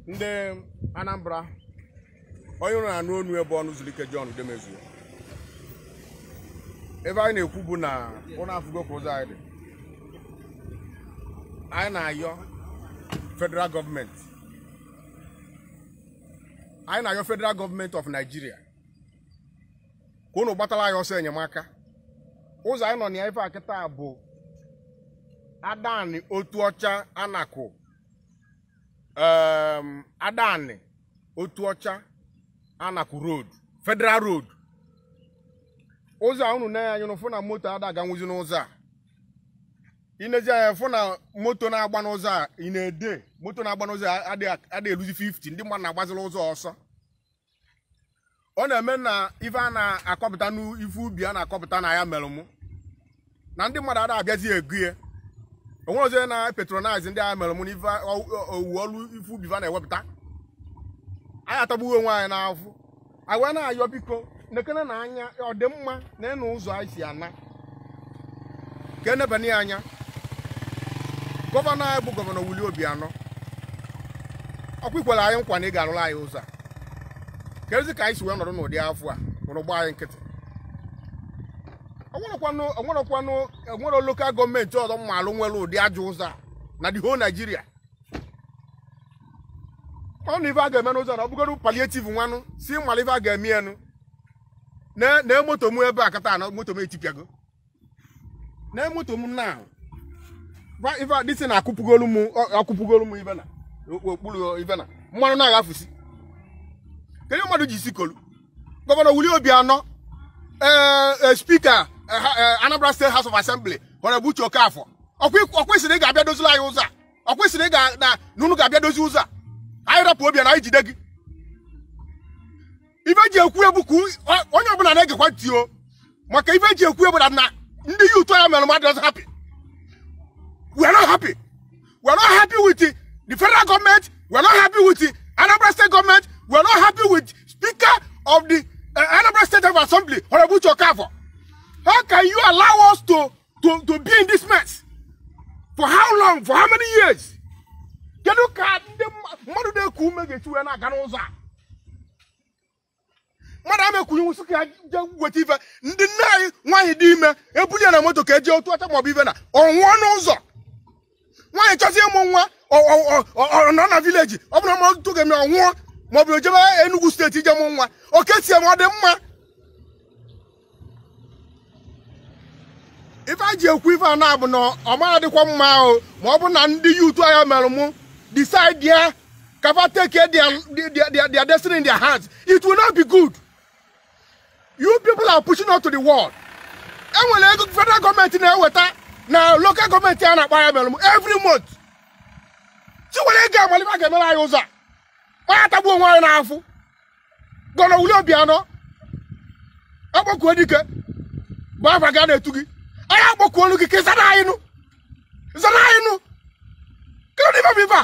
ndị Anambra onye unu na-anụ onu ya bụ Ọnụzuluike John Udemezue ife anyị na-ekwu bụ na unu afụgo ka ụzọ anyị dị anyị na-ayọ federal gọọmenti anyị na-ayọ federal gọọmenti of Nigeria ka unu gbatara anyị ọsọ enyemaka ụzọ anyị nọ na ya ife a kịta bụ Adani Otuocha Anaku em, Adani Otuocha Anaku road federal road ụzọ a unu na-ene anya unu fụ na moto ada aganwuzi n'ụzọ a i nezi anya fụ na moto na-agba n'ụzọ a ị na-ede moto na-agba n'ụzọ a ada eluzi 50 ndị mmadụ na-agbazila ụzọ ọsọ ọ na-eme na ife a na-akọpụta n'ife ubi a na-akọpụta n'Ayamelum na ndị mmadụ ada abịazi ego ya o nwerọzi onye na-patronize ndị Ayamelum n'ife owuwe ọrụ ife ubi fa na-ewepụta anyị atagbue onwe anyị n'afụfụ anyị wee na-ayọ biko nekenenụ anya ọ dị mma nenụ ụzọ anyị si ana ka e nebanye ya anya gọvanọ anyị bụ gọvanọ Willie Obiano ọkwa i kwere anyị nkwa na ị ga-arụrụ anyị ụzọ a kedụzi ka anyị si wee nọrọ n'ụdị afụfụ a unu gba anyị nkịtị o nwerọkwanụ o nwerọ lokal gọọmenti ọzọ m malụ nwere ụdị ajọ ụzọ a na the whole Nigeria ọ na ife a ga-eme n'ụzọ na ọ bụgodu palliative nwanụ si mmalụ ife a ga-eme ya nụ na na moto m ebe a kịta na moto m etipịago na moto m na gwa ife a dịsị na akụpụgolu m ọ- akụpụgolu m ife n'okpuru ife na mmanụ na-aghafusi kedu mmadụ ji isi kolu gọvanọ Willie Obiano ee ee, spika eh, ha- eh, Anambra State house of assembly Honorable Uche Okafor o kwesịrị ị ga-abịa dozila anyị ụzọ a o kwesịrị ị ga na na unu ga-abịa dozi ụzọ a anyị rapụ Obiano anyị jide gị ife e ji ekwu ya bụ ka onye ọbụla na-egekwa ntị ọ maka ife e ji ekwu ya bụ na na ndị youth Ayamelum adịrọzi happy we are not happy we are not happy with the federal government we are not happy with the Anambra state government we are not happy with speaker of the uh, Anambra state of assembly Honorable Uche Okafor how can you allow us to to, to be in this mess? For how long? For how many years? Kedu ka ndị mma- mmadụ na-eku ume ga-esi wee na-aga n'ụzọ a? Mmadụ ama ekuninwu sị ka ya jee weta ife ndị nne anyị nwaanyị dị ime e buli ya na moto ka e je Otuocha maọbụ ife na ọ nwụọ n'ụzọ nwaanyị chọzi ịmụ nwa ọ- ọ- ọ- ọ- ọ nọ na vileji ọ bụrụ ma ọtụtụ ga-eme ọ nwụọ ma ọ bụ ejebe Enugu steeti ije mụ nwa oke tie ma ọ dị mma ife e ji ekwu ife a na-abụ na ọ ma adịkwa mma ahụ ma ọ bụ na ndị yutu Ayamelum decide ya ka va take their, their, their, their destiny in their hands it will not be good you people are pushing out to the world e nwere ego federal gọọmenti na-eweta na local gọọmenti a na-akpọ Ayamelum every month chiwere ego a malị ife a ga-emere anyị ụzọ a ma anyị atagbuo onwe anyị n'afụfụ Gọvanọ Willie Obianọ Akpọkuedike bụ afa gị a na-etu gị anyị akpọkuolu gị ka ị zana anyị nụ ị zana anyị nụ kedu nụ ife bụ ife a